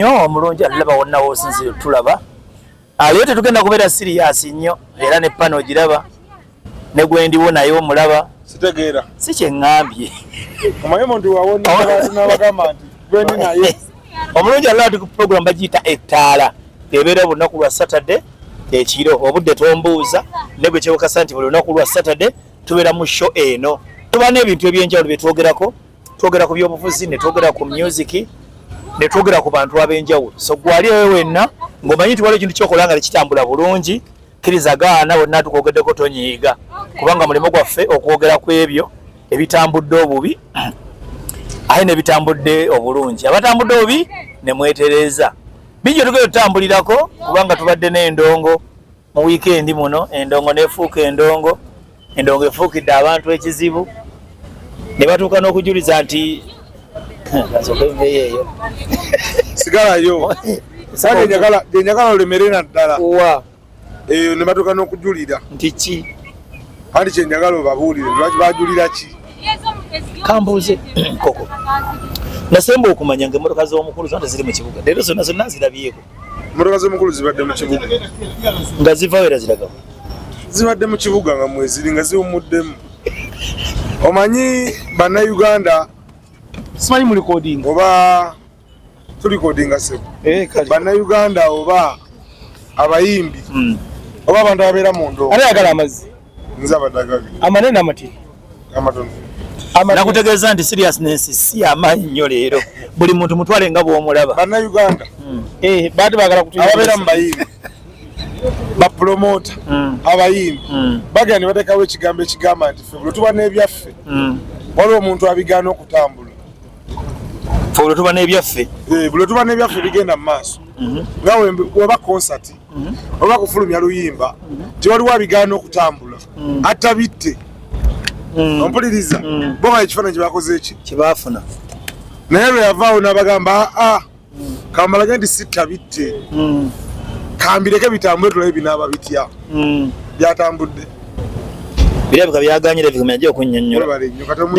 nnyo omulungi alaba wonna wosinzire tulaba aliyo ah, tetugenda kubeera siriyasi nnyo era ne pano ogiraba ne gwendiwo naye omulaba sitegeera si kyeŋŋambye omanyi omuntu wawonabagamba nti gwendi naye omulungi alaba ti ku puroguramu bagiyita ettaala ebeera olunaku lwa satade ekiro obudde tombuuza ne bwe kyewukasa nti buli lunaku lwa satade tubeera mu sho eno tuba n'ebintu eby'enjawulo bye twogerako twogera ku byobufuzi ne twogera ku myuziki ne twogera ku bantu ab'enjawulo so gwali ewe wenna ng'omanyi nti waliwo ekintu kyokola nga tekitambula bulungi kkiriza gaana bonna tukwogeddeko tonyiiga kubanga mulimu gwaffe okwogera ku ebyo ebitambudde obubi aye nebitambudde obulungi abatambudde obubi nemwetereeza bingi otugenda otutambulirako kubanga tubadde n'endongo mu wiikendi muno endongo nefuuka endongo endongo efuukidde abantu ekizibu ne batuuka n'okujuliza nti eyo sigalayo genyagala olemere naddala eyo ne batuuka n'okujulira nti ki kandi kyenjagala obabuulire lwaki bajulira ki kambuuze koko nasemba okumanya nga emotoka z'omukulu zona teziri mu kibuga leero zonna zonna zirabyeko Mmotoka z'omukulu zibadde mu kibuga nga zivawo era ziraga zibadde mu kibuga nga mweziri nga ziwumuddemu omanyi bannayuganda simanyi mu likodinga oba tulikodinga sebo eh, bannayuganda oba abayimbi hmm. oba abantu ababeera mu ndoo ayagala amazzi nze abadaga amanene amatini amatono nakutegeeza nti seriousness si amaanyi nnyo leero buli muntu mutwale nga bwomulaba banauganda hmm. eh, baati bagala kutuababeera mu bayimbi bapulomota hmm. abayimbi hmm. bagenda ne bateekawo ekigambo ekigamba nti fe buli tuba n'ebyaffe waliwo omuntu abigaana okutambula olwo tuba n'ebyaffe eh, buli tuba n'ebyaffe bigenda mu maaso mhm. nga weba konsati mhm. oba kufulumya luyimba mhm. tewaliwo abigaana okutambula atta bitte ompuliriza bo nga ekifaananyi kyebakoze eki kyebaafuna naye lwe yavaawo n'abagamba aa ah, ah, kambalage nti sitta bitte hmm. kambireke bitambule tulabe binaaba bitya hmm. byatambudde birabika byaganyira ebigumya gye okunyonyola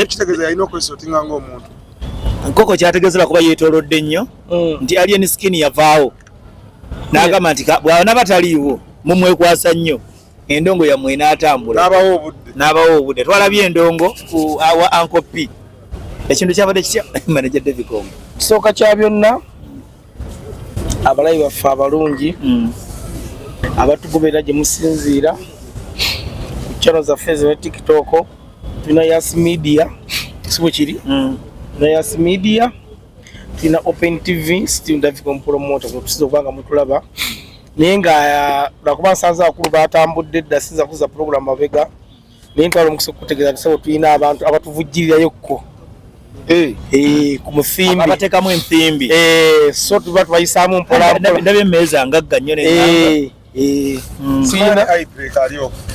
kitegeeza yalina okwesotinga ngaomuntu nkoko kyategezera kuba yetolodde nnyo hmm. nti alien skin yavaawo nagamba nti bwanaba taliiwo mumwekwasa nnyo endongo yammwe enaatambula n'abawo obudde n'abawo obudde twalabye endongo ku awa anko p ekintu kyabadde kitya manaja devicongo kisooka kya byonna abalayi baffe abalungi hmm. abatugoberera gye musinziira ku channel zaffe zine tiktok tulina yas media si bwe kiri hmm. na yas media tulina open tv still daviconpromote kutusiza okuba nga mutulaba naye nga uh, lwakuba nsanze abakulu batambudde dda sinza kuza pulogulamu mabega naye ntwala omukisa okukutegeeza nti sabo tulina abantu abatuvujjirirayo kko eh. eh, ku musimbi abatekamu ensimbi eh, so tuba tubayisaamu mpolambolabi emeeza ngagga nnyo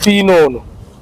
tulina hmm. ono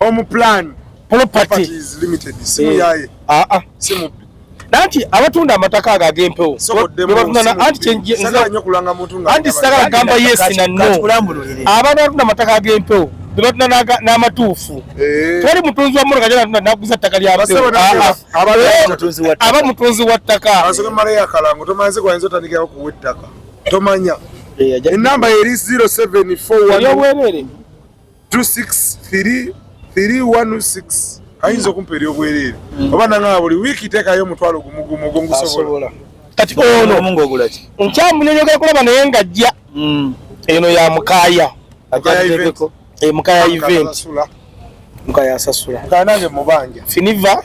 Home plan properties limited simu eh, yaye ah ah simu nanti abatunda amataka ago agempewo anti sagala gamba yes na no abantu abatunda amataka agempewo bebatunda n'amatuufu eh. tewali mutunzi wa mmotoka janatunda naguza ttaka lyabewo ah, ah. aba mutunzi wa ttaka tomanya enamba eri 0741 26316 ayinza okumpa eri obwereere oba nanga buli wiiki teekayo omutwalo gumugumu ogwo ngusobola kati ono nkyamunenyoga kulaba naye nga jja hmm. eno ya mukaya ajaeko mukaya event mukaya asasula mukaya nange mubanja finiva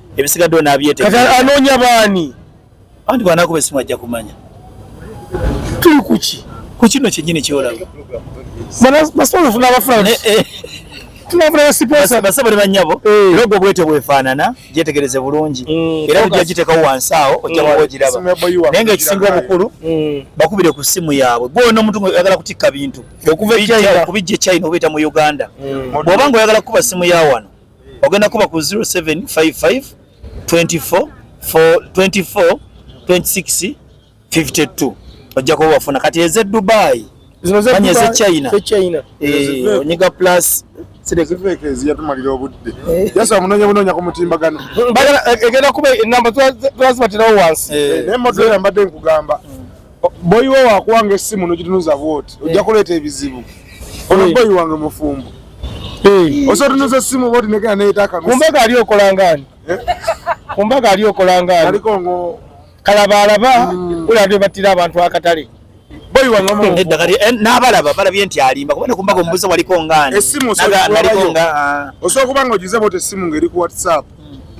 ebisigadde onabyete kati anoonya baani anti bwanakuba esimu ajja kumanya tuli kuki ku kino kyenyini kyolaba basobola ofuna abafuna eh, eh. basabale banyabo eh. era ogwo bwete bwefaanana gyetegereze bulungi mm, era ojja gitekawo wansi awo ojjawagiraba mm. naye nga ekisinga obukulu mm. bakubire ku simu yaabwe gwona omuntu ngaoyagala kutikka bintu okubijja e china obeeta mu uganda bwoba nga oyagala kukuba simu ya wano ogenda kuba ku 0755 24 24 26 52 ojja kuba wafuna kati eze dubai manya eze china eh, onyiga plus ziyatumalira obudde eh. jasa omunonya bunonya ku mutimbagano egenda kuba enamba twazibatirawo wansi eh. naye motoera mbadde nkugamba Boyi we wakuwanga essimu nogitunuza bwoti ojja eh. kuleeta ebizibu ono eh. boyi wange mufumbo eh. osotunuza essimu bwoti negenda neyetakakumbaga ali okolangani kumbaga ali okolangani kalaba alaba mm. ulabye battira abantu akatale n'abalaba balabye nti alimba kuba nekumbaga omubuza waliko ngaani osobola kuba nga ogize bwoti essimu ngaeri ku whatsapp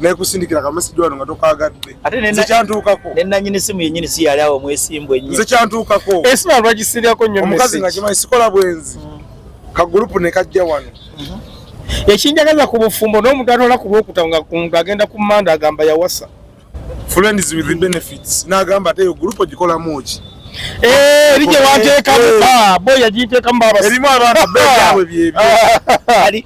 nekusindikira kamesigi wano nga tokwagadde nze kyantuukako nenanyini simu yenyini si yali awo mwesimbu enyi nze kyantuukako esimu eh, alwagisiryako nyo omukazi nga kimanyi sikola bwenzi mm. kagulupu nekajja wano mm-hmm. ekinjagaza ku bufumbo n'omuganula ku lwokuta nga agenda ku manda agamba yawasa friends with the benefits n'agamba ate yo gulupu ogikolamu ki Eh, erije wateeka muka bo yagiteeka mu baba erimu abantu beyawe byebyo ali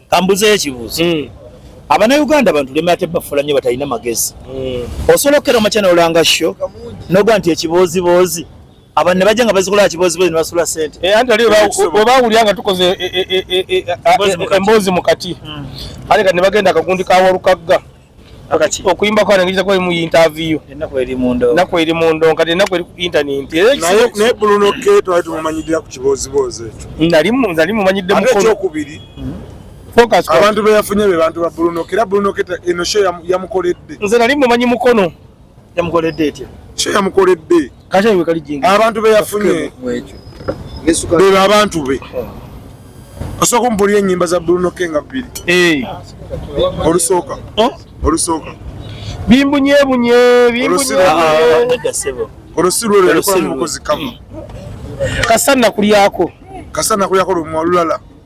kambuze ekibuzo mm. abana uganda bantu lemera tebafula nyo batalina magezi mm. osobola okukera omakyana olanga sho noga nti ekibooziboozi abantu ne bajja nga bazikola kibozibozi ne basula sente eh, anti ali webawulira nga tukoze eh, eh, emboozi mu kati mm. ate kati ne bagenda akagundi kawalukagga akati okuyimba kwa nangiriza kwa mu interview enako eri mundo nako eri mundo kati enako eri ku internet naye ne buluno keto ati mumanyidira ku kibozi boze ndali mu ndali mu manyidde mu kono kubiri hmm? focus kwa abantu be yafunye be bantu ba buluno kira buluno keta eno show ya, ya mukoledde nze ndali mu manyi mukono yamukoledde etya kyo yamukoledde abantu be yafunye bebo abantu be osooka omupulira enyimba za bruno kenga bbiri eh. olusooka oh. olusooka bimbunyeebunye bimbunyeolwosiruolwolekolamubukozi kama kasana kulyako kasana kulyako lumwa olulala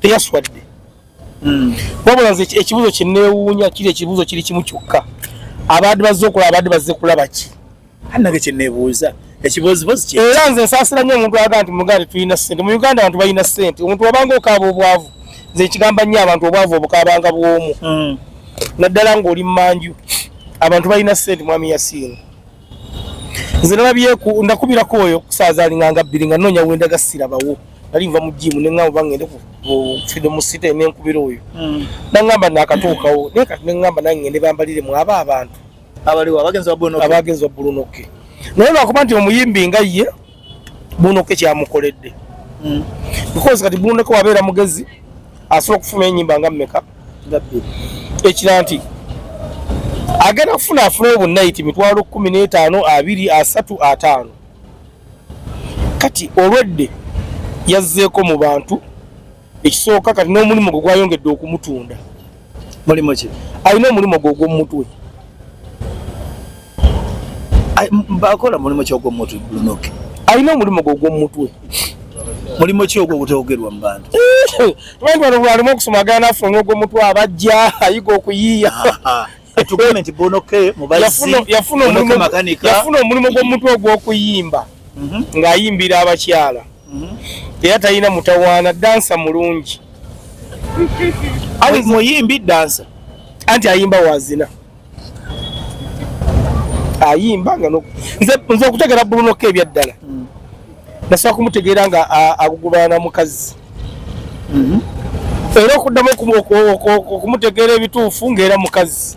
teyaswadde hmm. wabula nze ekibuzo kyenewuunya kiri ekibuzo kiri kimu kyokka abaadi bazze okulaba abaadi bazze kulaba ki anage kyenebuuza ekibozibozi era nze nsaasira nnyo omuntu aga nti muganda tulina sente mu uganda abantu balina sente omuntu wabanga okaaba obwavu nze ekigamba nnyo abantu obwavu obukabanga bwomu hmm. naddala ngaoli mumanju abantu balina sente mwami yasiini nze nalabye ndakubira ku oyo kusaaza alinganga bbiri nga noonya wenda gasira bawo nali nva mu jiimu ne ŋŋamba oba ŋŋende ku freedom city ne nkubira oyo hmm. naŋŋamba naakatuukawo naye kati ne ŋŋamba nange ŋŋende bambalire mu aba abantu abaliwo abagenzi ba bulunoke naye lwakuba nti omuyimbi nga ye bunoke kyamukoledde mm. because kati bunoke wabeera mugezi asobola okufuna enyimba nga mumeka ekira nti agenda kufuna afuna obunayiti mitwalo kumi n'etaano abiri asatu ataano kati olwedde yazzeeko mu bantu ekisooka kati n'omulimu gwe gwayongedde okumutunda mulimu ki alina omulimu gwe ogwomumutwe bakola mulimu ki ogwomumutwe lunoke alina omulimu gwe ogwomumutwe mulimu ki ogwo ogutaogerwa mu bantu bantu bano bwalimu okusoma agana afuna n'ogwomutwe abajja ayiga okuyiiya tugambe nti bonoke mubazziyafuna omulimu gw'omutwe ogw'okuyimba mhm. ng'ayimbira abakyala mhm. era talina mutawaana dansa mulungi muyimbi dansa anti ayimba wazina ayimba nga nze okutegera bulunoko ebyaddala mm. nasobola kumutegeera nga agugubana mukazi mhm. era okuddamu okumutegeera ebituufu ngaera mukazi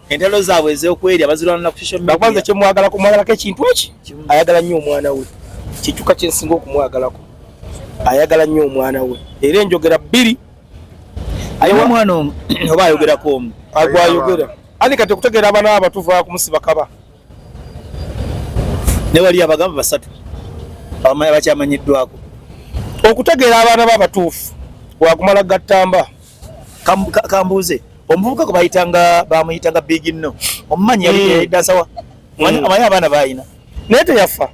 entalo zaabwe ez'okwerya bazirwanira ku social media. Bakwanza kye mwagala ku mwagala ke kintu eki ayagala nnyo omwana we kikyuka kye nsinga okumwagalako ayagala nnyo omwana we era enjogera bbiri ayiwa mwana omu oba ayogerako omu agwayogera ani kati okutegeera abana abo tuva kumusiba kaba ne wali abagamba basatu abamanya bakyamanyiddwako okutegeera abaana bo abatuufu wakumala gattamba kambuuze omuvubuka gwe bayitanga bamuyitanga big no omumanyi yali hmm. dansawa hmm. amanyi abaana bayina naye teyafa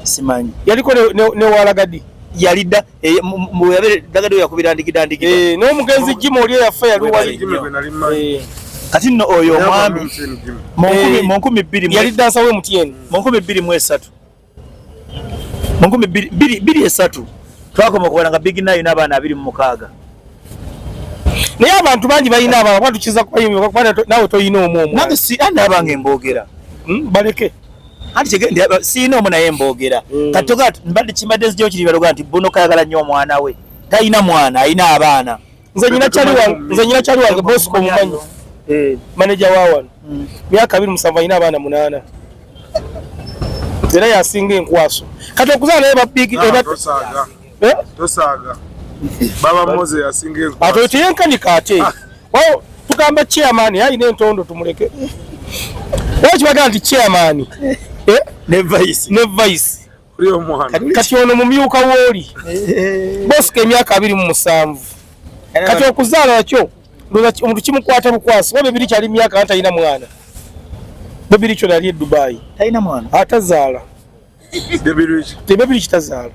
simanyi yaliko newalagadi yalidda eh, yabdagadi yakubira ndikidandiki eh, naye omugenzi jim oli eyafa yaliwali eh. kati nno oyo omwami mu nkumi bbiri yali dansawa emutn mu nkumi bbiri mu esatu mu nkumi bbiri esatu twakoma okuwala nga big nayo n'abaana abiri mu mukaaga naye abantu bangi balina abaana kuba tukiza kubayimbaawe tolina omu omu nange si andi abange mboogera hmm, baleke anti kigende siina omu naye mboogera hmm. kati toga mbadde kimbadde nzijayo kiri baloga nti buno kayagala nnyo omwana we talina mwana alina abaana nze nyina chali wange nze nyina chali wange boss ko mumanyi eh manager wa wan hmm. myaka abiri musanvu ina abana munana zera yasinga enkwaso kati okuzana naye bapiki ah, eba tosaga eh tosaga baba moze yasinga enkwaso ato tiyenka ni kate ah. wao tukamba chairman yayi ne ntondo tumuleke wao kibaga nti chairman eh ne vice ne vice kati ono mumyuka wooli bosika emyaka abiri mu musanvu kati okuzaala nakyo omuntu kimukwata bukwasi oba bebiri kyali myaka nga talina mwana bebiri kyo nali edubayi atazaala tebebiri kitazaala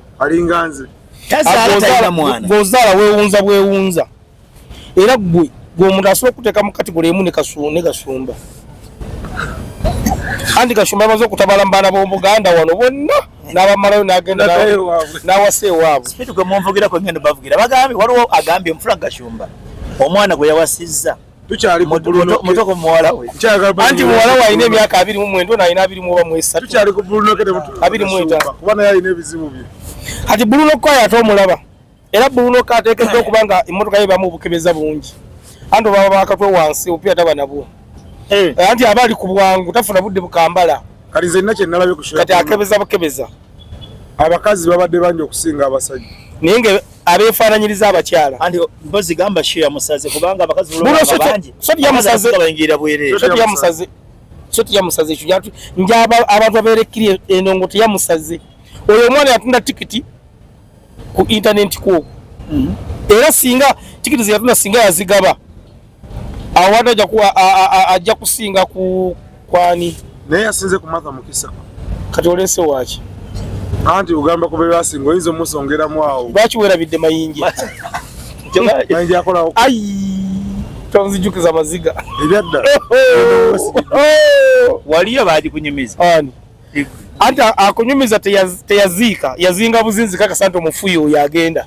ngaozaala wewunza bwewunza era gwe gwe omuntu asobola okuteeka mu kategole emu ne gasumba anti gasumba amaze okutabala mu baana b'omu buganda wano bonna n'abamalayo n'agenda n'awasa ewaabwe sipiidi gwe munvugira kwe ngendo bavugira bagambye waliwo agambye mufula gasumba omwana gwe yawasizza mutoko muwala we anti muwala we alina emyaka abiri mu mwendo nalina abiri mu oba mu esatu abiri mu etaano kati buluno kwayo ate omulaba era buluno kateekeddwa okuba nga emmotoka ye bamu obukebeza bungi anti obaba bakatwe wansi obupiira taba nabwo eh. Eh, anti aba ali ku bwangu tafuna budde bukambala kati nze nina kyenalabye kati akebeza bukebeza abakazi babadde bangi okusinga abasajja naye nga abeefaananyiriza abakyala anti mpozi gamba shia musaze kubanga abakazi bangi sotiyamusazebayingira bwerere sotiyamusaze sotiyamusaze ekyo jatu nja abantu abeerekkiri endongo teyamusaze oyo omwana yatunda tikiti ku intanenti kwoku mm-hmm. era singa tikiti zeyatuna singa yazigaba awada ajja kusinga ku kwani naye yasinze ku matha mukisa kati olese waki anti ogamba kubebasinga oyinza omusongeramu awo lwaki werabidde mayinja mayinja akolawo tonzijukiza maziga ebyadda waliyo bagikunyumiza anti akunyumiza teyaziika yazinga buzinzi kakasa nti omufuyi oyo agenda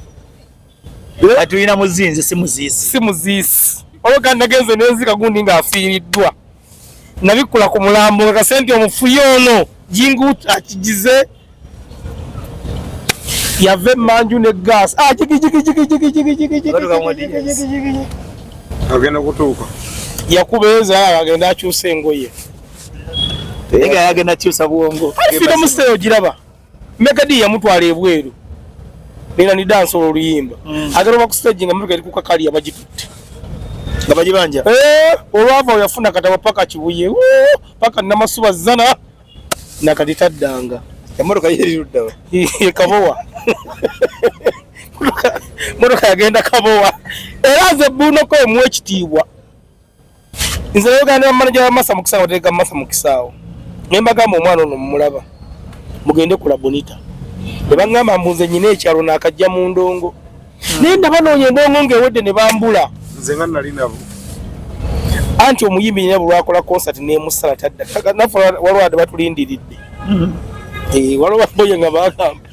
atulina muzinzi si muziisi si muziisi oba kandi nagenze nenzika gundi ng'afiiriddwa nabikkula ku mulambo kakase nti omufuyi ono jingu akigize yava emanju ne gas agenda kutuuka yakubeeza agenda akyusa engoye Ega yagenda kyusa bwongo. Alifika mu stage ogiraba. Mega D yamutwala ebweru. Nina ni dance oluyimba. Mm. Agero ba ku stage nga mega likuka kali abajitutte. Nga bajibanja. Eh, olwava oyafuna katawa paka kibuye. Woo, paka namasuba zana. Nakati tadanga. Emotoka yeri rudawa. Kabowa. Motoka yagenda kabowa. Era ze buno ko emwe kitiibwa. nze yoganda bamanaja bamasa mukisaawo tereka masa mukisaawo naye mbagamba omwana ono mumulaba mugende kula bonita nebagamba mbunze nyina ekyalo nakajja mu ndongo hmm. naye ndabanoonya endongo ngaewedde ne bambula nze nga nali nabo anti omuyimbi nyina bulwakola concert nemusala tadda nafe walwade batulindiridde hmm. eh, waliwo baboye nga bagamba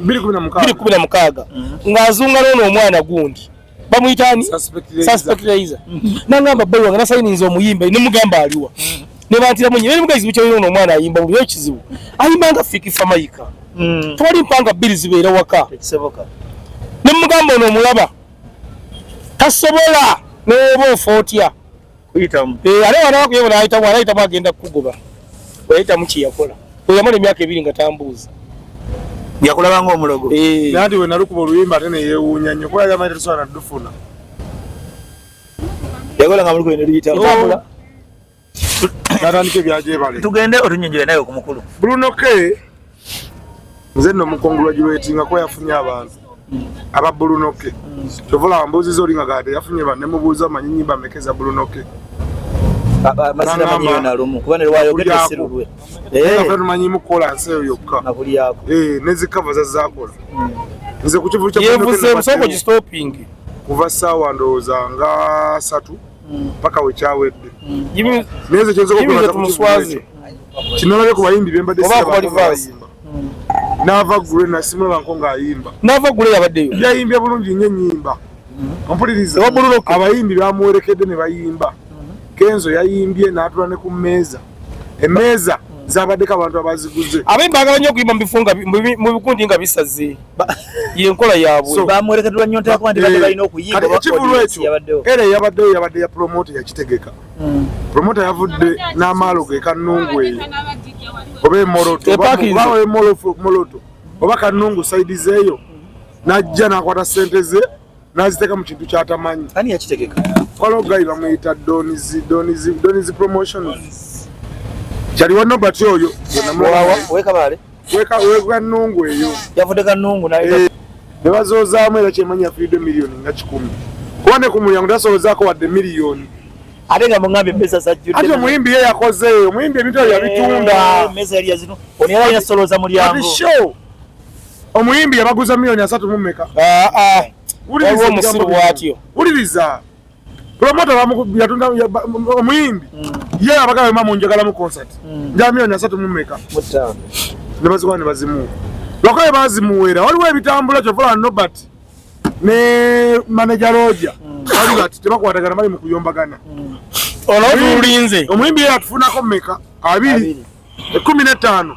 biri kumi na mukaaga mm-hmm. ng'azunga n'ono omwana gundi bamuyitaani saspectilizer mm-hmm. nangamba bbayi wange nasayiniza omuyimba ne mugamba aliwa mm-hmm. ne bantiramu nyo nemugayizibu kyalina ono omwana ayimba buli ekizibu ayimba nga fikifa mayika mm. tewali mpanga bbiri zibeera waka ne mugamba ono omulaba tasobola n'oba ofa otya kuyitamu eh ale wana wakuye bona ayitamu ala ayitamu agenda kukugoba wayitamu ki yakola oyamala emyaka ebiri nga tambuuza yakulaba nga omulogo eh. nandi we nalukuba oluyimba ate neyewuunya nnyo kuba yagamba nti tusobola nadufuna yakola nga muliko eneluyitamu oh. natandika ebyajebale tugende otunyonjole naye okumukulu bruno ke nze nno mukongulwagirwetinga kuba yafunye abantu aba bulunoke kyova olaba mbuuziza oli nga gade yafunye ba ne mubuuza manyi nyimba ameka eza bulunoke tumanyi mukukola nsi eyo yokka eh, nezikava zazakola hmm. nze kukivukuva saawa ndowooza nga satu mm. paka wekyawedde mm. neze kyezokumuswazi kinalabye ku bayimbi bembadde mm. nava gule nasimula banko ngaayimba nava gule yabaddeyo yayimbye bulungi nyo enyimba ompuliriza abayimbi bamuwerekedde ne bayimba kenzo yayimbye natula ne ku meeza emeeza zabaddeko abantu abaziguze abayimbi bagala nyo okuyimba mu bikundi nga bisaze yenkola yabwe bamwerekedwa nyo nta kwandi bade balina okuyimba ekivulu ekyo era yabadde yabadde ya promoter yakitegeka hmm. promoter yavudde n'amaalo ge kanungu eyo oba emoroto oba emoroto oba kanungu saidi zeeyo najja nakwata sente ze naziteeka mu kintu kyatamanyi ani yakitegeka waliwo gayi bamuyita donizi donizi donizi promotions kyali wa nobert oyo wekabaale wekanungu eyo yavudde kanungu eh, ne bazoozaamu era kyemanyi yafiridde miliyoni nga kikumi kuba ne ku mulyango tasolozaako wadde miliyoni ate nga mugambye meza zajjudde ate omuyimbi ye yakoze omuyimbi ebintu ebyo yabitunda eh, meza yali yazino ono yali alina solooza mulyango Omuyimbi yabaguza milioni asatu mu meka. Ah ah. Wuliriza omusiru bwatyo. Wuliriza. Promota bamu yatunda omuyimbi. Mm. Ye abagala mama munjagala mu concert. Mm. Nja milioni asatu mu meka. Mutano. Nebazikwa ne bazimu. Lokoye bazimuwera. Waliwo ebitambula kyo fula Nobert. Ne manager Roger. Mm. Wali bati tebakwatagana bali mu kuyombagana. Mm. Olwo tulinze. Omuyimbi yatufunako meka. Abiri. Abiri. Ekumi na tano.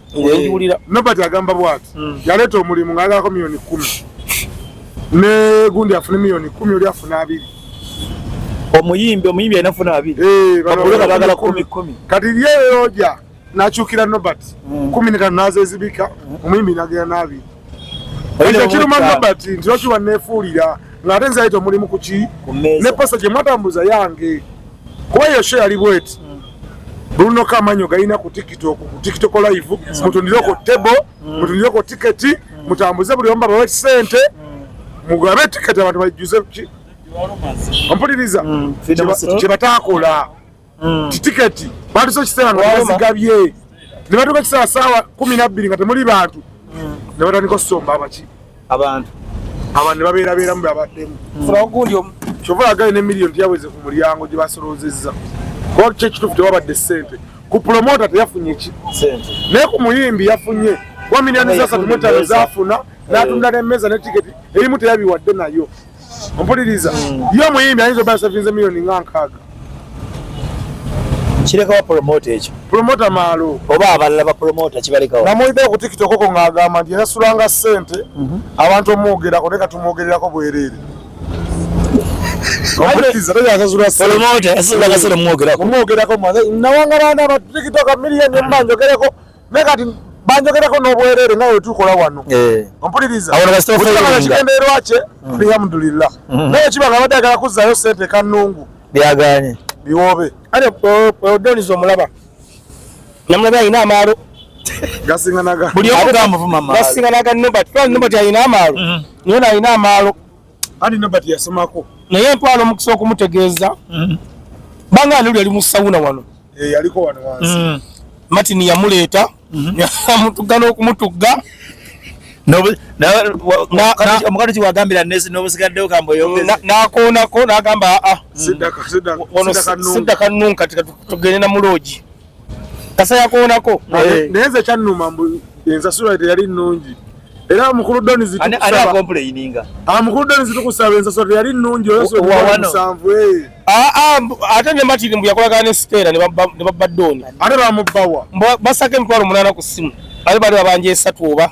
ngiwulira nobert agamba bwati hmm. yaleeta omulimu ngaagalako miliyoni kumi ne gundi afune miliyoni kumi oli afuna abiri omuyimbi omuyimbi alina funa abiri eh, bagala kumi kumi kati lyeyoja nakyukira nobert hmm. kumi netano nazezibika hmm. omuyimbi nagera n'abiri Ekyo kiruma Robert nti lwaki wanneefuulira ng'ate nze ayita omulimu ku ki ne posa gye mwatambuza yange kuba eyo sho yali bweti Bruno Kamanyo gaina ku TikTok ku TikTok live mm. mutundire ko table mm. mutundire ko ticket mm. mutambuze buli omba bawe sente mugabe ticket abantu bajuze ki ompuliriza kye batakola mm. titiketi batusa ekiseera nga bazigabye ne batuuka ekiseera saawa kumi nabbiri nga temuli bantu mm. ne batandika okusomba abaki abantu abantu ne babeerabeeramu beabaddemu ogundi omu kyova agaye ne miliyoni teyaweze ku mulyango gye basolozezza kuba kyo ekituufu tewabadde ssente ku pulomota teyafunye ki naye ku muyimbi yafunye wa miliyoni zasatu mutano zafuna natunda nemeza ne tiketi erimu teyabiwadde nayo ompuliriza mm. ye omuyimbi ayinza oba yasavinze miliyoni nga nkaaga kirekawa promota ekyo promota maalo oba abalala bapromota kibalekawo namuwidde ku tiktok oko ng'agamba nti yasasulanga ssente mhm. abantu omwogerako naye katumwogererako bwereere omwogerako nawanga baana batiktok miliyoni mba njogereko naye kati banjogerako n'obwereere nga wetukola wano eh. ompuliriza kigendererwa kye mm. alhamdulillah mm. naye kiba nga abadde agala kuzzayo sente kanungu byaganye biwoobe ate odoniza omulaba namulabe alina amaalo gasinganaga buli omu gamuvuma amaalo gasinganaga nobert nobert alina amaalo mm-hmm. naye nalina amaalo Ani nobody yasomako. Naye ntwala omukisa okumutegeeza. Mm. Banga nuli ali mu sauna wano. Eh yaliko wano wansi. Mm. Martin yamuleeta. Mm -hmm. Yamutugga n'okumutugga. omukati kiwagambira nesi nobusigaddewo kamboyonakonako nagamba aa ah, ah, mm. sidda kanunka tugende namuloogi kasa yakoonako naye nze kyannuma mbu ensasula teyali nnungi era mukulu doni zitukusaba ah, mukulu doni zitukusaba ensasula teyali nnungi oyosanvu eh. ah, ah, ate ne matiri mbu yakolagana ne siteera ne babba doni ate bamubbawa basako emitwalo omunaana ku ssimu ate bali babanja esatu oba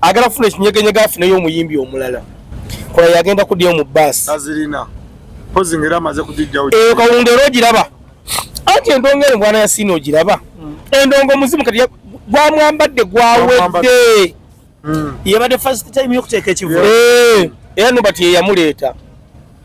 agala kufuna ekinyegenyega afuneyo omuyimbi omulala kola yagenda kudyayo mu baasi eyo kawunga era ogiraba anti endongo eno mwana yasiina ogiraba hmm. endongo muzimu kati gwamwambadde gwawedde hmm. yabadde first time yokuteeka ekivule eh, era nobati yeyamuleeta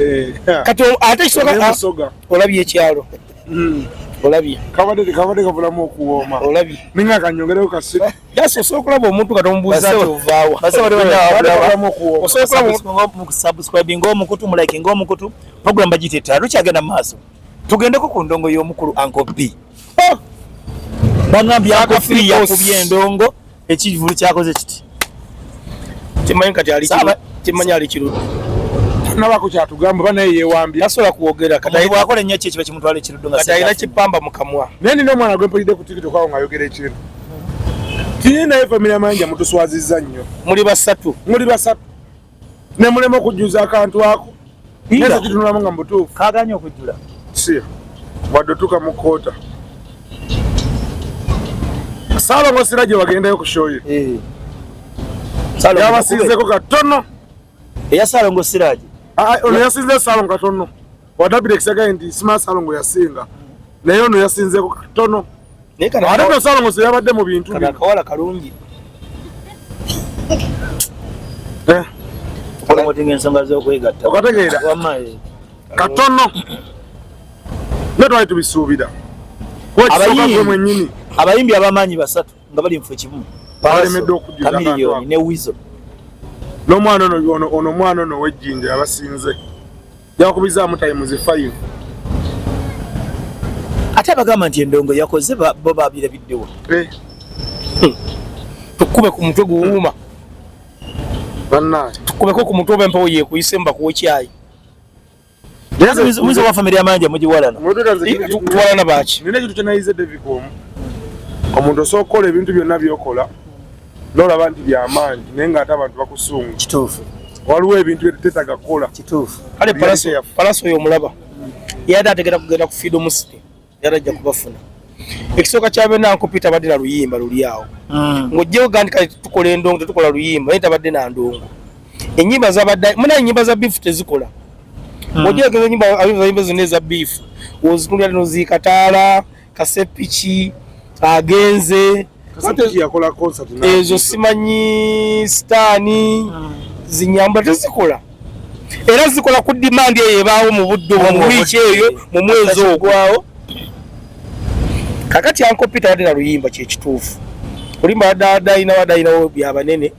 eh, kati ate kisoka olabye ekyalo hmm. olabye kabadde kabadde kabulamu okuwooma olabye ninga kanyongereko kasi yasi osobola okulaba omuntu kati omubuuza ti ovaawa mukusubscribe ngaomukutu mulike ngaomukutu program bagiyita ettala lukyagenda mu maaso tugendeko ku ndongo y'omukulu anko b oh! banambi anko firi yakubye endongo ekivulu kyakoze kiti kimanyi kati ali kimanyi ali kirudi nabako kyatugamba oba naye yewambye tasobola kwogera katibwakola ennyo kyekiba kimutwala ekiruddo nga kati alina kipamba mu kamwa naye nina omwana gwe mpulidde ku tikiti okwawo ng'ayogera ekintu tiye naye famire manja mutuswaziza nnyo muli basatu muli basatu ne mulema okujjuza akantu ako neza kitunulamu nga mubutuufu kaganye okujjula si wadde otuuka mu koota saalongo sira gye wagendayo ku shoye eh. yabasinzeko katono eya saalongo siraje ah, ah, ono yasinze saalongo katono watapita ekisagaye nti sima salongo yasinga naye ono yasinzeko katono ate no salongo seyabadde mu bintu kawala kalungi eh. otinga ensonga zokwegatta okategeera eh. katono ne twali tubisuubira mwenyini abayimbi abamaanyi basatu nga bali mufu ekimu balemedde okujjaa ne wizo n'omwana ono omwana ono wejjinja abasinze Yakubizamu times 5. Ate abagamba nti endongo yakoze bo babira biddewo. Eh. Hmm. Tukube ku mutwe guwuma. Banna. Tukube ko ku mutwe bempo ye kuyise mba ku chai. Yesu muzo wa familia manja mujiwalana. Tuwalana bachi. Nene kitu kya naize David Kom. Omuntu osokola ebintu byonna byokola. nolaba nti byamaanyi naye nga ate abantu bakusunga kituufu waliwo ebintu byetetaga kukola kituufu kale palaso oyo omulaba yade ategera kugenda ku fido musiti yade ajja kubafuna ekisooka kyabena nkupi tabadde na luyimba luli awo hmm. ngaojjewo gandi kale tukola endongo tetukola luyimba naye tabadde na ndongo enyimba zabadde munaye enyimba za bifu tezikola hmm. ojjegeza nyimba zonna eza bifu ozikulira noziikataala kasepiki agenze ezo simanyi sitaani ah. zinyamba tezikola era zikola ku dimandi eyo ebaawo mu budde obwo mu wiiki eyo mu mwezi ogwawo kakati ankopi tawadde na luyimba kyekituufu olimba wadde adayina wadayinawo byabanene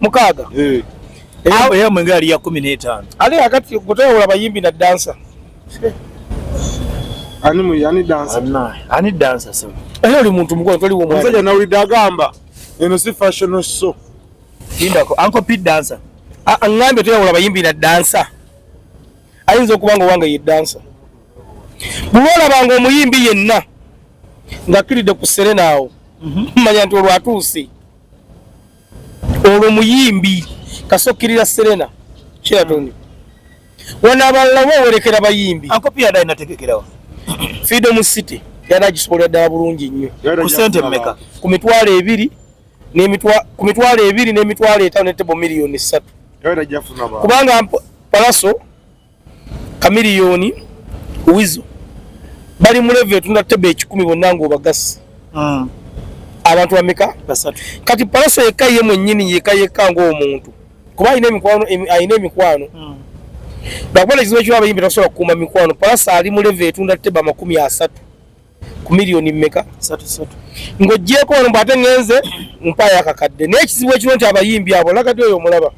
mukaaga eh. eyo mwenge ali ya kumi n'etaano ali akati kutawula bayimbi na dansa ani dansa sema eyo oli muntu mukulu toli wo mwaja na uli dagamba eno si fashion so indako anko pit dansa angambe tuyawula bayimbi na dansa ayinza okuba nga owange ye dansa bwolabanga omuyimbi yenna ngakkiridde ku serena awo mhm. manya nti olwatuuse olwo muyimbi kasokirira serena kyeyatoni wano abalala wewerekera bayimbi freedom city yali agisobolera ddala bulungi nnyo ku mitwalo ebiri ku mitwalo ebiri n'emitwalo etaano ne tebo miliyoni ssatu kubanga palaso kamiliyoni wizo bali mu level etunda tebe ekikumi bonna ng'obagasi hmm. abantu bameka kati palaso yekka ye mwennyini yeka yekka ng'omuntu kuba alina emikwano alina emikwano hmm. bakuba nekizibu ekiba abayimbi tasobola kukuuma mikwano palaso ali mu level etunda tebe amakumi asatu ku miliyoni mmeka ng'oggyeeko wano mbwate ngenze mpaayo akakadde naye ekizibu ekiro nti abayimbi abo lagadi oyo omulaba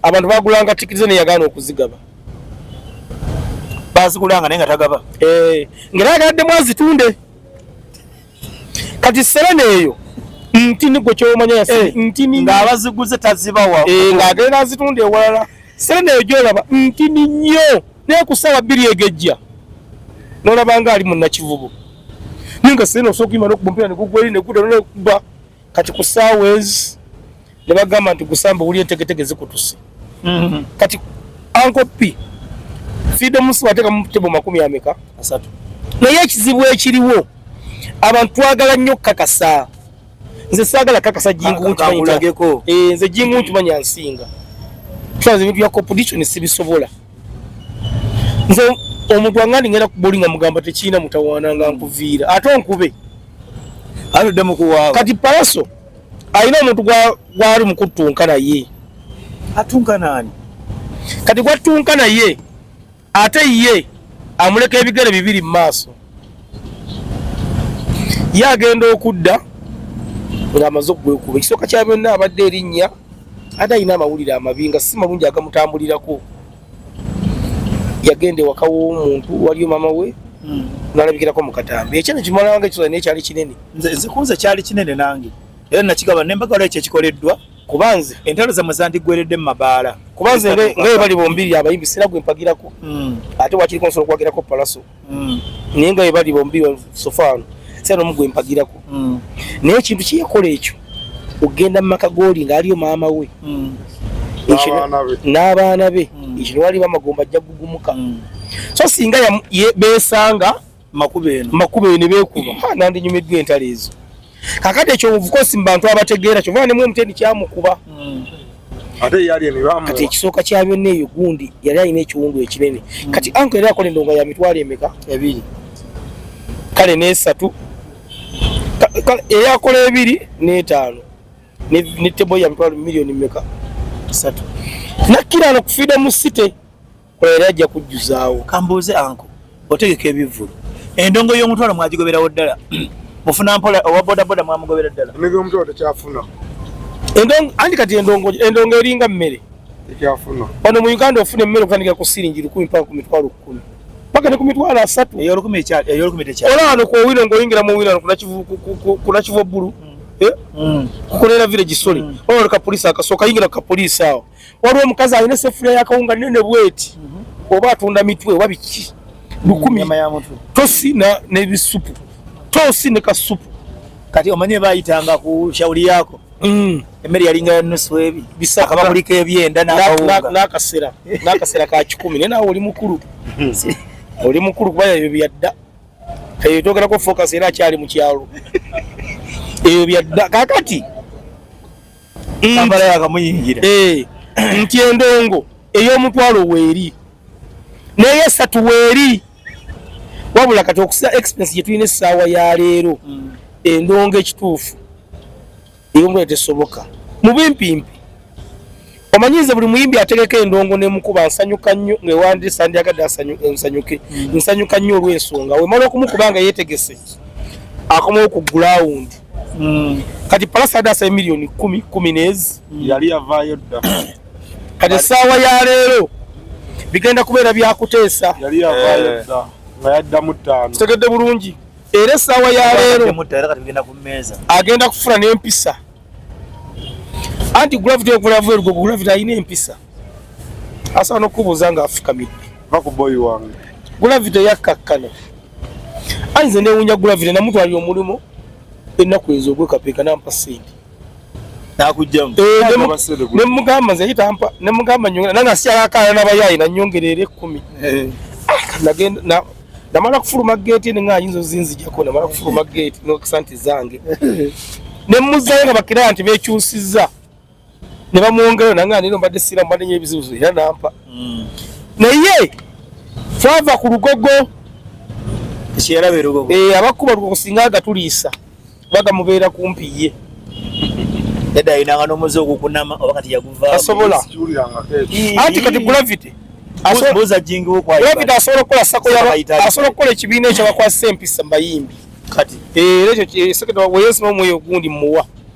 abantu bagulanga tikiti ze neyagaana okuzigaba bazigulanga naye nga tagaba eh, nga nayagaladdemu azitunde kati serena eyo ntini gwe kyomanya yasi eh, ntini ng'abaziguze tazibawa eh, ng'agenda azitunda ewalala serena eyo gyolaba ntini nnyo naye ku ssaawa bbiri egejja nolaba nga ali munakivubo naye nga sirina osobola okuyima nokuba omupiira negugwa eri negudda nolekuba kati ku ssaawa ezi ne bagamba nti gusamba wuli entegetege zikutuse mm-hmm. kati ankopi fiida omunsi wateeka mu tebo makumi ameka asatu naye ekizibu ekiriwo abantu twagala nnyo okukakasa nze saagala kakasa jingu nkimanyilageko eh, nze jingu nkimanya nsinga tusaza ebintu bya competition sibisobola nze omuntu wangandi ngenda kuboli nga mugamba tekirina mutawaana nga nkuviira ate onkube atuddemu kuwaaba kati palaso alina omuntu gwali mukuttunka naye atunka naani kati gwattunka naye ate ye amuleka ebigere bibiri mu maaso ye agenda okudda ng'amaze okugwekuba ekisooka kya byonna abadde erinnya ate alina amawulire amabi nga si malungi agamutambulirako yagenda ewaka w'omuntu waliyo maama we hmm. nalabikirako mu katambi ekyo nekimalanga ekisooka naye kyali kinene nze kunze kyali kinene nange era nakigaba nembagala ekyo ekikoleddwa kuba nze entalo zamwe zandigweredde mu mabaala kuba nze ngaye bali bombiri abayimbi sira gwe mpagirako hmm. ate wakiriko nsobola okuwagirako palaso hmm. naye ngaye bali bombiri sofaano sira nomu gwe mpagirako hmm. naye ekintu kyeyakola ekyo okugenda mu maka gooli ngaaliyo maama we n'abaana be ekino waliba amagomba ajja gugumuka so singa besanga makubo eno makubo eno beekuba hmm. nandinyumiddwa entalo ezo kakati ekyo obukosi mu bantu abategeera kyova nemu omuteni kyamukuba hmm. kati ekisooka kya byonna eyo gundi yali alina ekiwundu ekinene hmm. kati anko yali akola endonga ya mitwalo emeka ebiri kale nesatu eyakola ebiri netaano ne tebo ya mitwalo miliyoni meka satu nakkiraano kufiida mu site kola era ajja kujjuzaawo kambuuze anko otegeka ebivvulu endongo y'omutwalo mwagigoberawo ddala mufuna mpola owa bodaboda mwamugobera ddala endongo y'omutwalo tekyafuna anti kati endongo eringa mmere tekyafuna ono mu uganda ofuna emmere okutandika ku siringi lukumi mpaka ku mitwalo kkumi paka ne ku mitwalo asatu eyolukumi tekyafuna olaba no ku owino ng'oyingira mu owino kunakivu obbulu mm. eh? mm. kukolera village sole mm. olaba no kapolisi akasooka yingira ku kapolisi awo waliwo omukazi alina esefuliya yakawunga nene bweti mhm. oba atunda mitwe oba biki lukumi tosi nebisupu tosi ne kasupu kati omanye bayitanga ku shauli yako mm. emmere yalinga yanusu ebi bisakaba kuliko ebyenda nakasera nakasera ka kikumi naye nawe oli mukulu oli mukulu kuba ebyo byadda eyo togerako focus era akyali mukyalo ebyo byadda kakati eh, nti endongo ey'omutwalo weeri naye esatu weeri wabula kati okusa expense gye tulina essaawa ya leero mm. endongo ekituufu eyomutwalo tesoboka mu bimpimpi omanyize buli muyimbi ategeka endongo nemukuba nsanyuka nnyo ngewandisa ndyagadde nsanyuke mm. nsanyuka nnyo olwensonga wemala okumukuba nga yetegese akomawo ku gulawundi mm. kati palasa yadde asaye miliyoni kumi kumi nezi mm. yali yavaayo dda kati essaawa ya leero bigenda kubeera byakuteesa yali yavaayo eh. dda nga yaddamu ttaano kitegedde bulungi era essaawa ya leero agenda kufuna n'empisa anti gravity okulavu erugo gravity alina empisa asobola n'okukubuuza nga afukamidde va ku boyi wange gravity yakkakkana anze newunya gravity namutwalira omulimu ennaku ezo ogwekapeeka nampa sente nemugamba nze yitampa nemugamba nyongera nange asikyalakaana nabayaayi nanyongereera ekkumi eh. ah, namala kufuluma geeti ene nga ayinza ozinzijako namala kufuluma geeti nokisa nti zange nemuzayo nga bakira nti bekyusiza ne bamwongerayo nange anino mbadde siira mbadde nyo ebizibuzibu era nampa hmm. naye twava ku lugogo eh, abakuba lugogo singa agatuliisa bagamubeera kumpi ye yadde ayinanga n'omuzi ogukunama oba kati yaguva asobola anti kati gravity asobola okukola sako asobola okukola ekibiina ekyabakwasisa empisa mbayimbi kati eh, era ekyo eh, seketa weyesu n'omwoyo ogundi muwa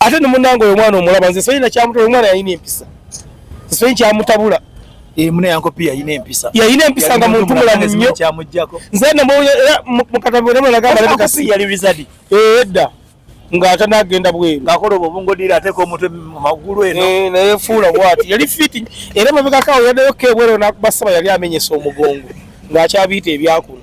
ate ne munange oyo mwana omulaba nze simanyi nakyamutula omwana yalina empisa simanyi kyamutabula eh, mune yankopi yalina empisa yalina empisa nga muntu mulamu nnyo nze nemukatabulemunagambaaeedda eh, eh, ng'ate n'agenda bweru ng'akola obwo obungodira ateeka omutwe mu magulu eno naye fuula bwati yali fiti era mabegakaawo yaddayo keebwero n'akubasaba yali amenyesa omugongo ng'akyabiita ebyakuno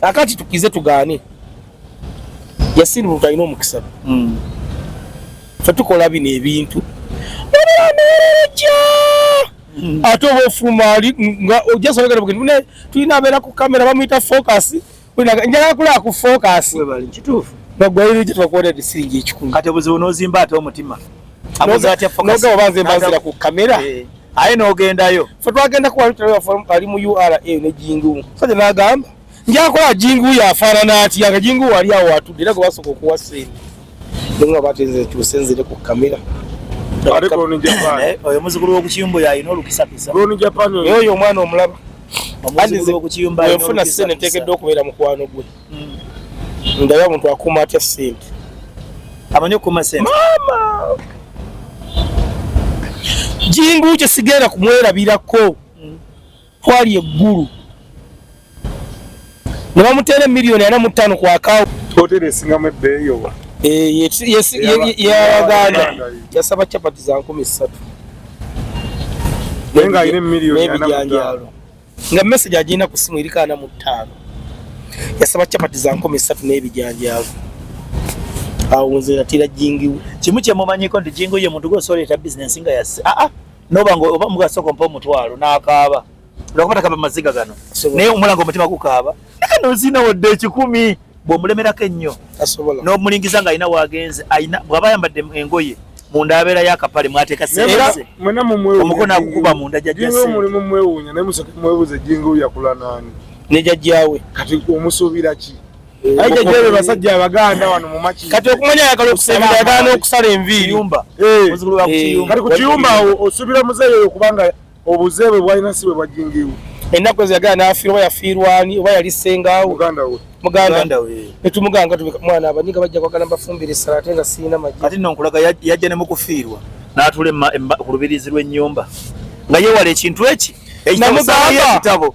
kakati tukize tugaane yasin muntu alina omukisa mm. fe tukola bino ebintu obeamereja mm. ate oba ofuluma ali nga ojasobegera bugeni ne tulina abeera ku kamera bamuyita focus njagala kulaba ku focus kituufu nagwaire gye twakuwona disiringi ekikumi kati obuzibu nozimba ate omutima nogaba banze mbanzira ku kamera eh. aye nogendayo fe twagenda kuwali mu ura ne jingu saja nagamba njakola jingu yafaanana atya nga jingu wali awo watudde era gwe basooka okuwa sente nenga bateze tusenzire ku kamera eh, oyo muzukulu wokukiyumba oyo alina olukisakisa oyo omwana omulaba ofuna sente ntekedde okubeera mukwano gwe ndabe omuntu akuuma atya sente amanyi okuuma sente maama jingu kye sigenda kumwerabirako twali eggulu ne bamuteera emiliyoni ana mu ttaano ku akawo hoteri esingamu ebbeeyi oba eh, yabaganda yasaba capati za nkumi ssatu naye ng'alina emiliyoni ana mu ttaano nga message agenda ku simu eri kaana mu ttaano yasaba chapati za nkumi ssatu n'ebijanjaavu awo nze natira jingiwe kimu kyemumanyiko nti jingu ye muntu gwosoleeta bizinensi nga yasi aa ah, ah. noba nga oba mugasoko mpa omutwalo n'akaaba lwakuba takaba maziga gano naye omulanga omutima gukaaba nozina wadde ekikumi bwomulemerako ennyo nomulingiza nga alina wagenze alina bwaba ayambadde engoye munda abeera yakapale mwateeka seomukono akukuba munda jajjamulimu mwewunya naye musoke mwebuuza ejjinga oyakula naani ne jajjawe kati omusuubira ki eh, aija jebe basajja abaganda wano mumakii kati okumanya ayagala okusemberaagala n'okusala enviiri eh. kati ku kiyumba osubira muzeeyo oyo kubanga Obuze bwe bwalina si bwe bwajjingiiwo. Ennaku ezo yagala n'afiirwa oba yafiirwa ani oba yali ssengaawo. Muganda we. Muganda we. Ne tumuganga tubika mwana abanyiga bajja kwagala mbafumbire essala ate nga sirina magye. Kati nno nkulaga yajja ne mu kufiirwa. N'atuula ku lubiriizi lw'ennyumba nga yeewala ekintu eki. Namugamba.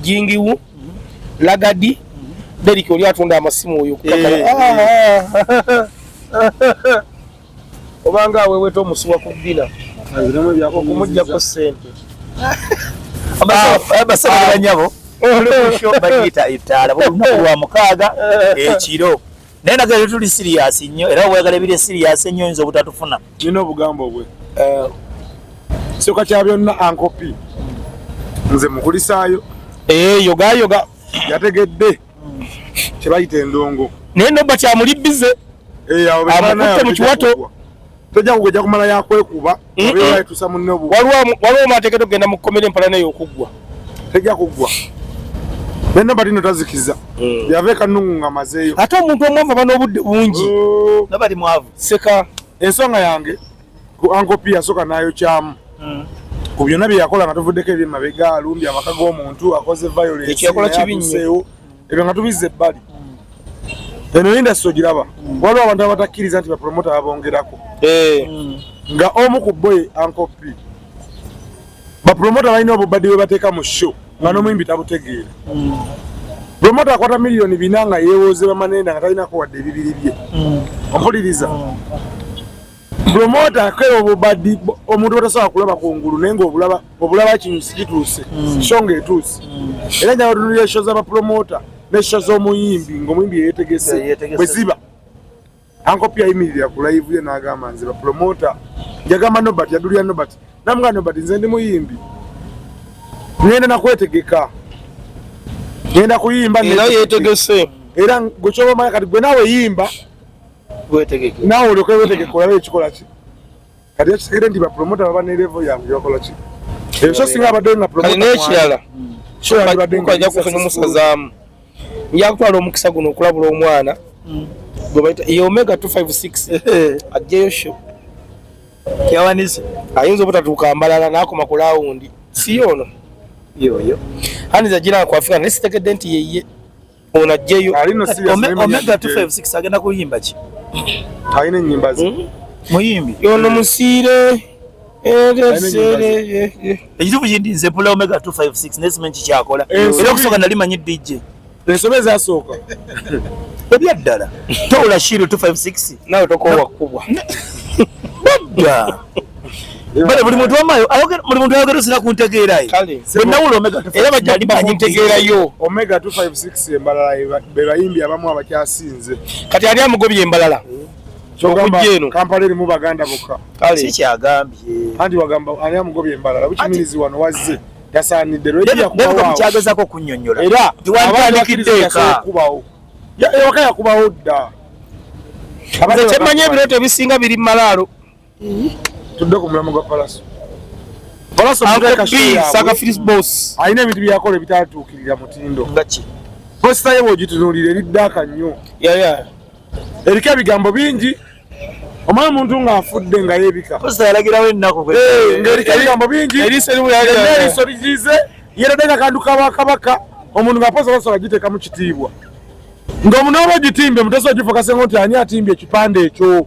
jingiwu lagadi deriki oli atunda amasimu oyo eh. obanga aweweta omusuwa ku bina okumujjako sente basabira banyabo olwokyo bagiyita ettaala buli lunaku lwa mukaaga ekiro naye naga lero tuli serious nnyo era weyagala ebiri serious ennyo oyinza obutatufuna nina obugambo bwe eh, soka kya byonna ankopi nze mukulisaayo eh, yogayoga yategedde kyebayita endongo naye nobba kyamuli bize eh, amukutte mu kiwato tojja kugejja kumala yakwekuba tusa munne bu waliwo maateeketo kugenda mu komera empala naye okuggwa tejja kuggwa nenda balino tazikiza mm. yava ekanungu nga mazeeyo ate omuntu omwavu aba n'obudde bungi oh. nabali mwavu seka ensonga yange ku ankopi yasooka nayokyamu mm. ku byonna bye yakola nga tuvuddeko ebyemabega alumbye amaka g'omuntu akoze violence ebyo nga tubizza ebbali eno indasi ogiraba waliwo abantu abatakkiriza nti bapromota babongerako eh. nga omu ku boy ankopi bapromota balina obubadi bwe bateeka mu show nga nomuyimbi tabutegeera promota akwata miliyoni bina nga yewoze bamanenda nga talinako wadde ebibiri bye ompuliriza promota akera obubadi omuntu batasobola kulaba kungulu naye nga obulaba obulaba kino sikituuse hmm. so nga etuuse hmm. era nyaba tunulira esho z'abapromota n'esho z'omuyimbi ng'omuyimbi yeyetegese bwe ziba ankopi yayimirira ku live ye n'agamba nze bapromota yagamba nobert yadulira nobert namuga nobert nze ndi muyimbi ngenda nakwetegeka ngenda kuyimba era yetegese era gwe kyoba omanya kati gwe nawe yimba wetegeke nawe olyoke wetegeke olabe ekikola ki kati ekitegere nti bapromota baba ne levo yange gyebakola ki ebyo so singa abadde nga promota nekirala aja kufuna omusazaamu yakutwala omukisa guno okulabula omwana mm. gwebaita ye omega 256 ajjeyo sho yawanise ayinza obutatuuka mbalala nakoma ku lawundi si yoono yoyo aniza gira kwafika naye sitegedde nti yeye Ono ajjeyo. Alino si ya Omega 256 agenda kuyimba ki? Alina nyimba zi. Hmm? Muyimbi. Yono musire. Ejibu jindi nze pula Omega 256 nesi menchi chakola. Eh, Ilo kusoka nalima nyi DJ. Nesome za soka. Ebya dala. Tola shiru 256. Nao toko wakubwa. Bada. bale buli muntu wamayo ayogera buli muntu ayogera sina kuntegeera ye kale nawulo omega era bajja bakuntegeera yo omega 256 embalala be bayimbi abamu abakyasinze kati ali amugobye embalala kyogambye kampala erimu baganda bokka kale si kyagambye anti wagamba ali amugobye embalala bukimirizi wano wazze tasaanidde lweja kubawo kyagezako okunyonyola era abaandikiddeka kubawo ewaka yakubawo dda abaze kyemmanyi ebirooto ebisinga biri mu malaalo tudde ku mulamu gwa palaso palaso boss alina ebintu byakola ebitatuukirira mutindo ngaki posita ye bwogitunuulira eri ddaaka nnyo eriko ebigambo bingi omala omuntu ng'afudde nga yebika posita yalagirawo ennaku ng'eriko ebigambo bingi eriiso ligize yeradde nga kantu kabakabaka omuntu ng'aposa basobola giteeka mu kitiibwa ng'omunooba ogitimbe mutesa ogifokase ngo nti ani atimbye ekipande ekyo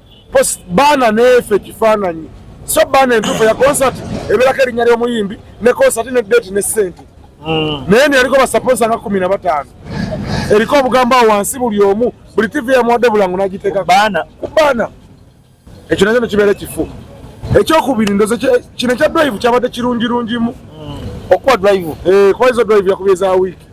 baana neefe ekifaananyi so baana entuufu ya concert ebeerako erinnya ly'omuyimbi ne concert ne date ne ssente hmm. naye neyaliko basaponsa nga kumi na bataano eriko obugambo awo wansi buli omu buli tivi yamuwadde bulango n'agiteeka baana ku baana ekyo nakyo nekibeera ekifu ekyokubiri ndoze kino ekya drive kyabadde kirungirungimu hmm. okuba drive eh, kuba izo drive yakubye za wiiki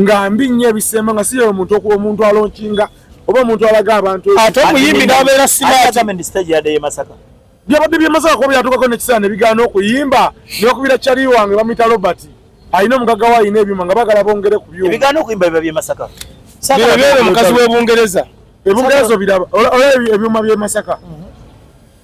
nga mbi nnyo ebisemba nga siyo omuntu omuntu alonkinga oba omuntu alaga abantu ate omuyimbi n'abeera simaatibyabadde byemasaka kuba byatukako nekiseera nebigaana okuyimba nokubira kyali wange bamuyita robert alina omugaga we alina ebyuma nga bagala bongere ku byumaomukazi webungereza ebungereza obiraba olaba ebyuma byemasaka mhm.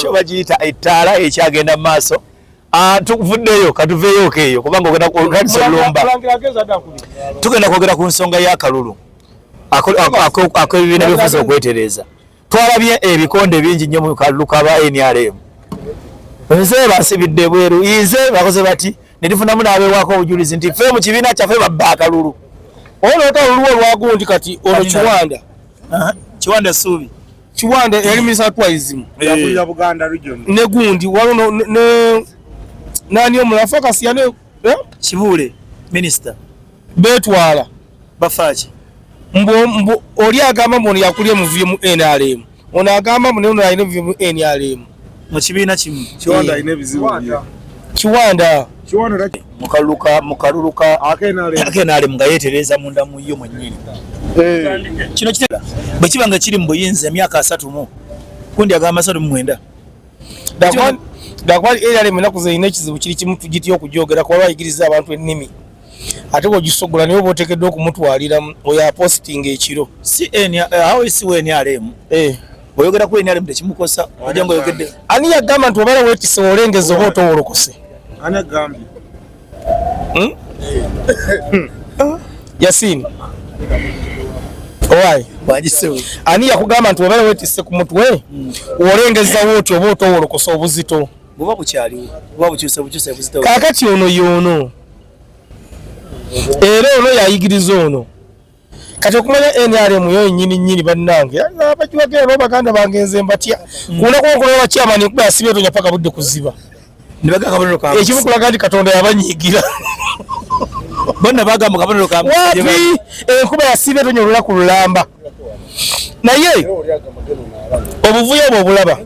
kyo bagiyita ettaala ekyagenda mu maaso ah, tuvuddeyo katuveeyooko eyo kubanga ogendaolumba tugenda kwogera ku nsonga y'akalulu akebibiina byofuza okwetereeza twalabye ebikonde bingi nnyo mu kalulu kaba nrm nze basibidde bweru ize bakoze bati ne tufunamu n'abeewaako obujulizi nti ffe mu kibiina kyaffe babba akalulu oba noota oluluwa olwagundi kati ono kiwanda kiwanda suubi kiwanda yali minisita twaizimu ne gundi waliwo nani omulafu akasiyane eh? kibuule minisita betwala bafaaki mbu oli agamba mbu ono yakulya omuvuyo mu nrm ono agamba mbu naye ono alina omuvuyo mu nrm mu kibiina kimu kiwanda alina ebizibu kiwanda mukaluluka akenalemu nga yetereza munda muyo mwenyini eh. kino kitera bwe kiba nga kiri mu buyinza emyaka asatu mu kundi agamba asatu mu mwenda dakwali eralemu enaku zerina ekizibu kiri kimu tugitya okujogera kuba bayigiriza abantu ennimi ate bwogisoggola naye oba otekeddwa okumutwalira oyo apostinga ekiro eh. oyogera ku nrm tekimukosa oja nga oyogedde ani yagamba nti obala wekise olengeza oba otowolokose hmm? yasini owaye ani yakugamba nti obala wetise ku mutwe hmm. olengezawo oti oba otowolokose obuzito kakati ono yono era ono yayigiriza ono kati okumanya nrm yo nyini nyini bannange abagiwagera no baganda bange nze mbatya mm. kuona kuokola wa chairman kuba asibe tonya paka budde kuziba nibaga kabonero ka ekimu kulaga ndi katonda yabanyigira bonna bagamba kabonero ka wapi enkuba eh, yasibe tonya olula ku lulamba naye obuvuyo obwo obulaba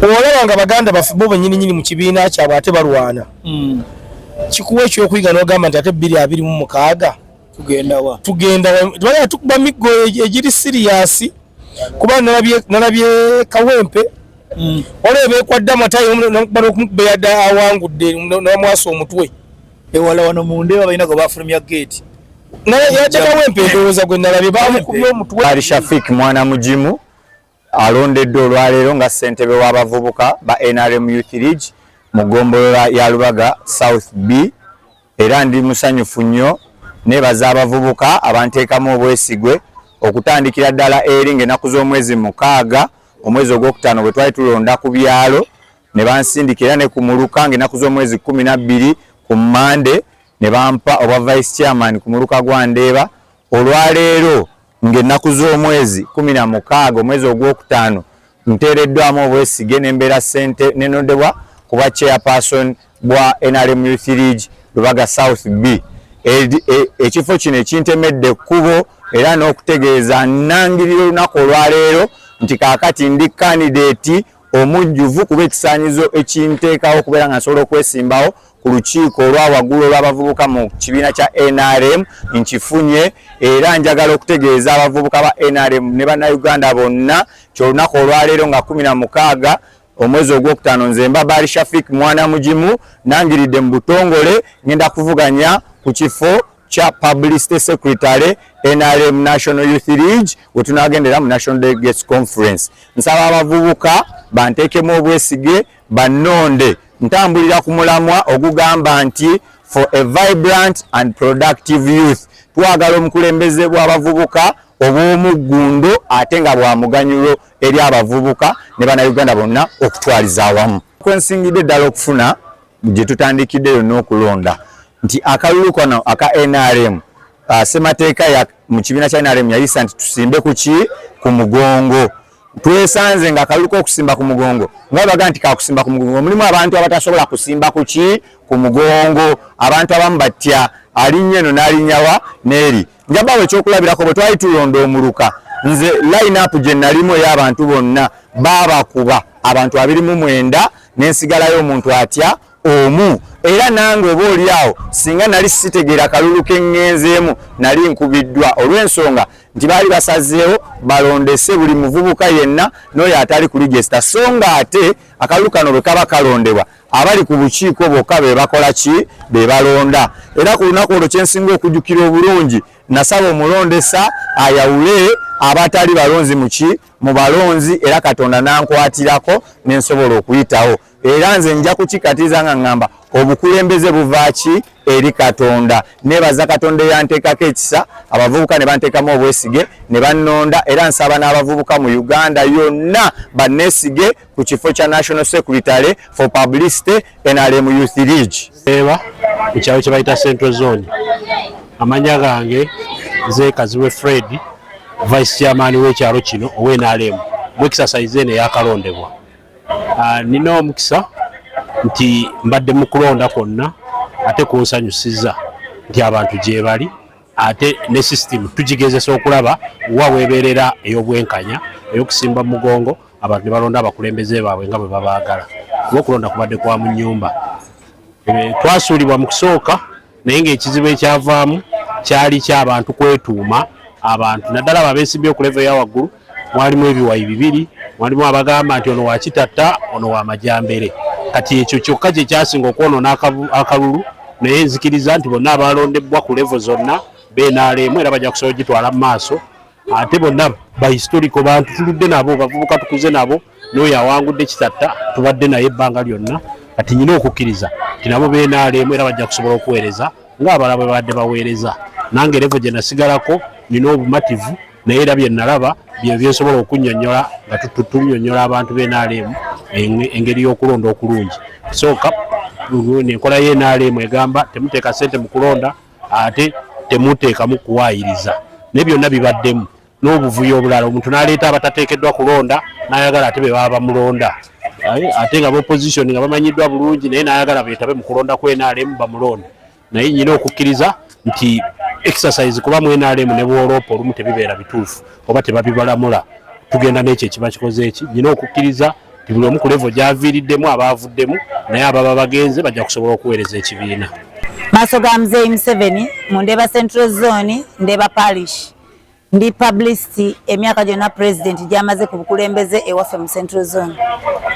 olaba nga baganda baffe bo benyini nyini mu kibiina kyabwe ate balwana mm. kikuwa ekyokuyiga nogamba nti ate bbiri abiri mu mukaaga tugendawa tugendawa tukuba miggo e-, egiri siriyasi kuba nalabye nalabye kawempe mm. olaba ebekwadde amatayo nakuba nokumukubeyadde awangudde namwasa omutwe ewala wano mundeba balina gwe bafulumya geeti naye yajja kawempe endowooza gwe nalabye bamukubye omutwe ali shafik mwana mugimu alondeddwa olwaleero nga ssentebe w'abavubuka ba nrm youth league mu ggombolola ya lubaga south b era ndi musanyufu nnyo nebaza abavubuka abanteekamu obwesigwe okutandikira ddala eri ng'enaku z'omwezi mukaaga omwezi ogwokutaano bwe twali tulonda ku byalo ne bansindika era ne ku muluka ng'enaku z'omwezi kumi na bbiri ku mmande ne bampa obwa vice chairman ku muluka gwa ndeeba olwaleero ng'ennaku z'omwezi kkumi na mukaaga omwezi ogwokutaano nteereddwamu obwesige ne mbeera ssente ne nondebwa ku bwa chairperson bwa NRM Youth League Lubaga South B. E, ekifo kino ekintemedde ekkubo era n'okutegeeza nnangirira olunaku olwaleero nti kaakati ndi kandideeti omujjuvu kuba ekisaanyizo ekinteekawo okubeera nga nsobola okwesimbawo ku lukiiko olwa waggulu olw'abavubuka mu kibiina kya nrm nkifunye era njagala okutegeeza abavubuka ba nrm ne bannayuganda bonna kyolunaku olwaleero nga kumi na mukaaga omwezi ogwokutaano nze mba baali shafik mwana mugimu nangiridde mu butongole ngenda kuvuganya ku kifo kya publicity secretary nrm national youth league wetunagendera mu national delegates conference nsaba abavubuka bantekemu obwesige bannonde ntambulira ku mulamwa ogugamba nti for a vibrant and productive youth twagala omukulembeze bw'abavubuka obw'omuggundo ate nga bwa muganyulo eri abavubuka ne bannayuganda bonna okutwaliza awamu kwensingidde ddala okufuna gye tutandikidde yonna okulonda nti akalulu kano aka nrm uh, semateeka mu kibiina kya nrm yayisa nti tusimbe kuki ku mugongo twesanze nga akalulu k'okusimba ku mugongo nga baga nti kakusimba ku mugongo mulimu abantu abatasobola kusimba kuki ku mugongo abantu abamu batya alinnya eno n'alinyawa n'eri njabawo ekyokulabirako bwe twali tulonda omuluka nze lineup gye nalimu ey'abantu bonna baabakuba abantu abiri mu mwenda nensigalayo omuntu atya omu era nange oba oli awo singa nali sitegeera kalulu keŋŋenzeemu nali nkubiddwa olw'ensonga nti baali basazeewo balondese buli muvubuka yenna n'oyo atali ku ligesita so nga ate akalulu kano bwe kaba kalondebwa abali ku bukiiko bokka be bakola ki be balonda era ku lunaku olwo kyensinga okujjukira obulungi nasaba omulondesa ayawule abatali balonzi muki mu balonzi era katonda nankwatirako nensobola okuyitawo era nze nja kukikatiza nga ŋŋamba obukulembeze buvaaki eri katonda nebaza katonda eyanteekako ekisa abavubuka ne banteekamu obwesige ne bannonda era nsaba n'abavubuka mu uganda yonna banneesige ku kifo kya National Secretary for Publicity NRM Youth League eba ekyalo kye bayita Central Zone. Amanya gange nze Kaziwe Fred, Vice Chairman w'ekyalo kino owa NRM mu exercise eno eyakalondebwa. Ah, nina omukisa nti mbadde mu kulonda kwonna ate kunsanyusiza nti abantu gyebali ate ne system tugigezesa okulaba wa weebeerera ey'obwenkanya ey'okusimba mugongo abantu ne balonda abakulembeze baabwe nga bwe babaagala kuba okulonda kubadde kwa mu nnyumba eh, twasuulibwa mu kusooka naye ng'ekizibu ekyavaamu kyali ky'abantu kwetuuma abantu naddala abo abeesimbye okuleva eya waggulu mwalimu ebiwayi bibiri mwalimu abagamba nti ono wakitatta ono wamajambere kati ekyo kyokka kye kyasinga okwonoona akalulu naye nzikiriza nti bonna abalondebbwa ku levo zonna benaalemu era bajja kusobola gitwala mu maaso ate bonna ba historical bantu tuludde nabo bavubuka tukuze nabo n'oyo awangudde kitatta tubadde naye ebbanga lyonna kati nyina okukkiriza ti nabo benaalemu era bajja kusobola okuweereza ng'abala bwe babadde baweereza nange revo gye nasigalako nina obumativu naye era bye nalaba bye byensobola okunnyonnyola nga tunyonnyola abantu benaalemu engeri y'okulonda okulungi sooka enkola y'enaalemu egamba temuteeka ssente mu kulonda ate temuteekamu kuwaayiriza naye byonna bibaddemu n'obuvuyo obulala omuntu n'aleeta abatateekeddwa kulonda n'ayagala ate be baba bamulonda ate nga bopposition nga bamanyiddwa bulungi naye n'ayagala beetabe mu kulonda ku nrm bamulonda naye nyina okukkiriza nti exercise kuba mu nrm ne bwoloopa olumu tebibeera bituufu oba tebabibalamula tugenda n'ekyo ekiba kikoze eki nyina okukkiriza buli omu ku levo gyaviiriddemu abaavuddemu naye ababa bagenze bajja kusobola okuweereza ekibiina maaso ga muzeeyi museveni mu ndeeba central zone ndeeba parish ndi publicity emyaka gyonna pulezidenti gyamaze ku bukulembeze ewaffe mu central zone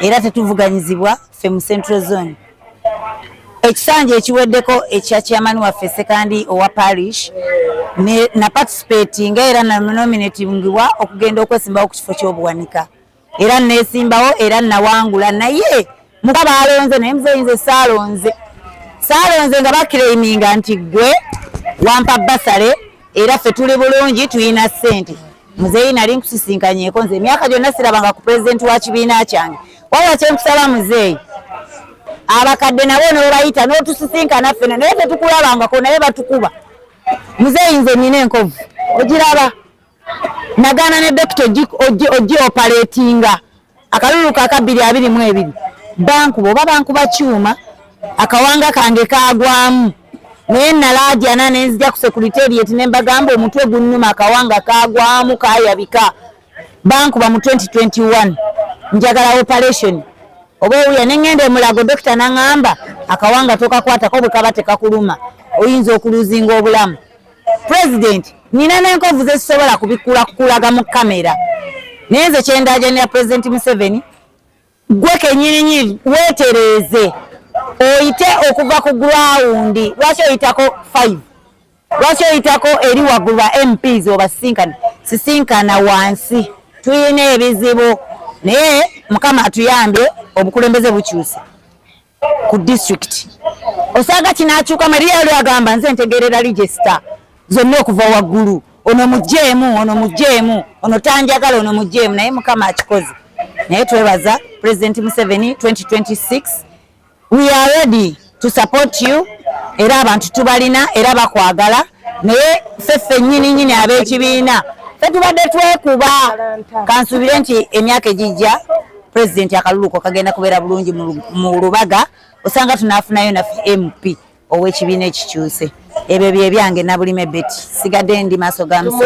era tetuvuganyizibwa ffe mu central zone ekisanja ekiweddeko ekya kyamani waffe sekandi owa parish naparticipatinga era nanominatingibwa okugenda okwesimbawo ku kifo ky'obuwanika era nesimbawo era nawangula naye muka balonze naye muzeyinze saalonze saalonze nga bakiraininga nti gwe wampa basale era ffe tuli bulungi tulina sente muzeeyi nali nkusisinkanyeko nze emyaka gyonna sirabanga ku pulezidenti wa kibiina kyange wabula kyenkusaba muzeeyi abakadde nabo nobayita notusisinkana ffena naye tetukulabangako naye batukuba muzeeyi nze nina enkovu ogiraba nagaana ne dokita ojji opaletinga akalulu ka kabbiri abiri mu ebiri bankuba oba bankuba kyuma akawanga kange kagwamu naye nalaajana nenzija ku sekuriteriyeti ne mbagamba omutwe gunnuma akawanga kagwamu kayabika bankuba mu 2021 njagala operation oba owuya nengenda emulago dokita nangamba akawanga tokakwatako bwekaba tekakuluma oyinza okuluzinga obulamu pulezidenti nina n'enkovu ze zisobola kubikula kukulaga mu kamera naye nze kyendaajanira pulezidenti museveni gwe kenyininyini weetereeze oyite okuva ku gurawundi lwaki oyitako five lwaki oyitako eri waggulu ba mps obasisinkana sisinkana wansi tulina ebizibu naye mukama atuyambye obukulembeze bukyuse ku district osanga kinakyuka maria yali agamba nze ntegerera register zonna okuva waggulu ono mujjeemu ono mujjeemu ono tanjagala ono mujjeemu naye mukama akikoze naye twebaza president museveni 2026 we are ready to support you era abantu tubalina era bakwagala naye ffe ffennyini nyini ab'ekibiina fe tubadde twekuba kansuubire nti emyaka egijja president akaluluko kagenda kubeera bulungi mu lubaga osanga tunafunayo naffe mp ow'ekibiina ekikyuse ebyo byebyange nabulime beti sigadde ndi maaso ga musa